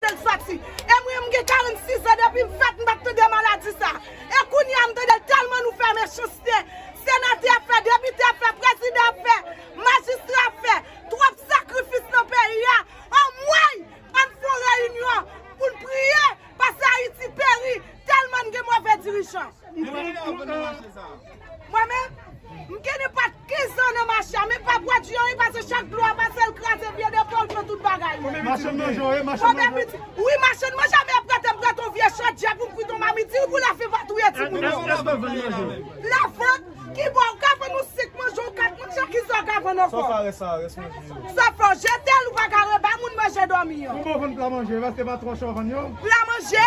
Tèt fati. E mwen m gen 46 an depi m fèt m pat tande maladi sa. E kounye a m tande l tèlman nou fè mechanste. Senatè ap fè, depite ap fè, prezidan ap fè, majistra ap fè. Twòp sakrifis nan peyi a. Anmweyy! Ann fon reyinyon pou n priye pase Ayiti peri tèlman n gen move dirijan. Mwen menm, m gen ne pat 15 zan nan mache a, men m pa bwè di anyen pase chak dlo a pase l kraze vye depo l pran tout bagay mwen. Machann manje w ye, machann manje w? Wi machann manje a men aprè te m pran ton vye chòt djè pou m frite yon mamit di l pou lafen va touye timoun yo. Èske w vann manje w? Lavant? Ki bo ou ka vann yon 5 manje ou 4 manje a ki sa ou ka vann ankò? Sòf a rès a, rès manje yo. Sòf a w jete l ou pa ka rebay moun manje dòmi an. Konbyen w vann pla manje yo, èske pa 3 cho w vann yo? Pla manje?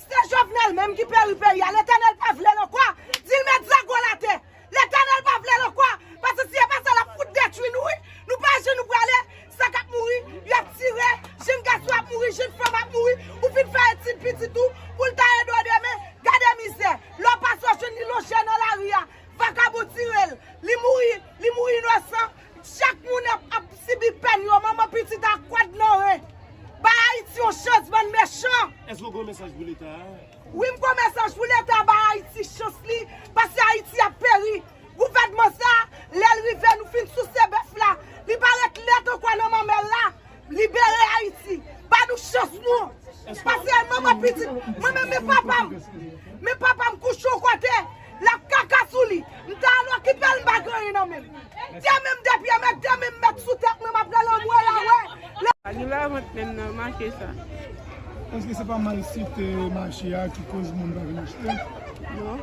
Se Jovenel menm ki peri peyi a Letènèl pa vle l ankò di l met zago l atè Letènèl pa vle l ankò paske si e pa sa l ap fout detwi nou wi nou pa je nou prale sa k ap mouri y ap tire jenn gason ap mouri jenn fanm ap mouri ou fin fè etid pitit ou pou l ta ede w demen gade mizè lè w pase w jwenn li lonje nan lari a vakabon tire l li mouri li mouri inosan. Chak moun ap ap sibi pèn yo manman pitit a kwad nan ren bay ayiti yon chans bann mechan. Eske w gon mesaj pou leta a? Wi m gon mesaj pou leta a bay ayiti chans li paske ayiti ap peri gouvènman sa lèl rive nou fin souse bèf la li pa ret lèt ankò nan manmèl la. Libere Ayiti! Ba nou chans nou! Pase al manman pitit! Mwen menm men papa m! Men papa m kouche yon kote, l ap kaka sou li! M ta al okipe l m pa gen anyen nan men m! Demen m de pye mèt, demen m mèt sou tèt mwen m ap rele an m wè la wè! Pa gen lavant menm nan, make sa. Eske se pa malsite mache a ki koz moun pa vin achte? Non.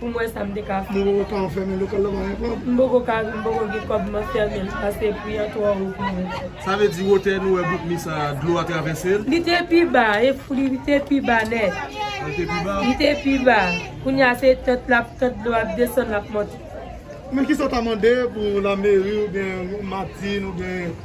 Pou m wè sa m te ka fè. M poko ka anfèmen lokal la pagen kòb. M poko ka m poko gen kòb m anfèmen l pase pri an twò wo pou mwen. Sa vle di wotè nou wè bout mi sa a dlo a travèse l? Li te pi ba e li te pi ba nèt. A li te pi ba? Li te pi ba. Kounye a se tant l ap tant dlo a ap desann l ap monte. Men kisa w ta mande pou lameri oubyen Martine oubyen.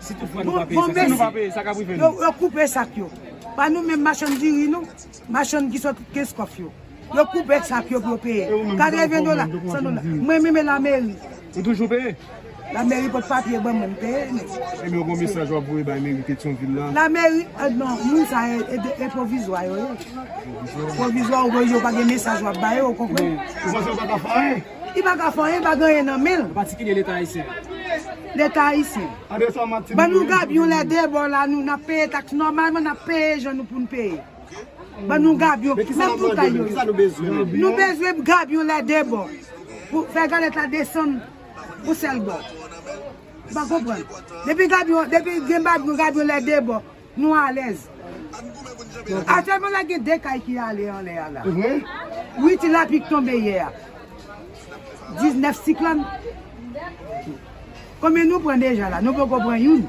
Si tout fwa nou pa peye sa, si nou pa peye sa kap rive nou. Yo koupe sak yo. Pa nou menm machann diri nou, machann ki sot Kenskof yo. Yo koupe sak yo pou yo peye. 80 dola, 100 dola. Mwen menm e la meri. Ou toujou peye? La meri pot papye ban mwen, m peye net. E men ou gon mesaj wap voye bay meri Petion vil la? La meri, non, moun sa e, e pwovizwa yo ye. Pwovizwa ou voye yo pa gen mesaj wap ba yo, ou konprann? Ou panse yo pa ka fè anyen? Li pa ka fè anyen, li pa gen anyen nan men l. An patikilye Leta Ayisyen. Leta Ayisyen. Tande sa Martine Ban nou gabyon lè de bò la nou nap peye taks nòmalman nap peye jan nou poun peye. Ban nou gabyon. Men kisa nap mande men Menm pou kisa yo yo. Kisa nou bezwen menm. Nou bezwen gabyon lè de bò. Pou fè galèt la desann yon sèl bò. Ou pa konprann. Depi gabyon, depi gen gabyon lè de bò. Nou alèz. Aktyèlman la gen 2 kay ki ale anlè a la. Wi ti lapli k tonbe yè a. 19 siklòn. Konbyen nou pran deja la? Nou poko pran youn.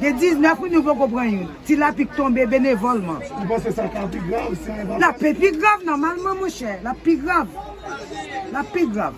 Gen 19 wi nou poko pran youn. Ti lapli k tonbe benevòlman. Ou panse sa ka pi grav si nou evakiye? Lap pi grav nòmalman monchè. Lap pi grav. Lap pi grav.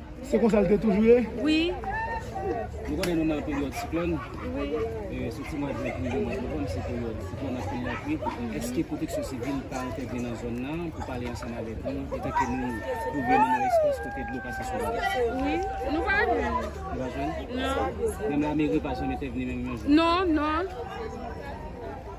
Se konsa l te toujou ye? Wi. Nou konnen nou nan peryòd siklòn. Wi. Soti mwa jen pou rive mwa novanm se peryòd siklòn anpil lapli. Èske pwoteksyon sivil pa entèvni nan zòn nan pou pale ansanm avèk nou etanke nou twouve nou nan espas kote dlo pase souvan? Wi. Nou pa jwenn. Nou pa jwenn? Non. Menm lameri pa janm entèvni menm yon jou? Non, non.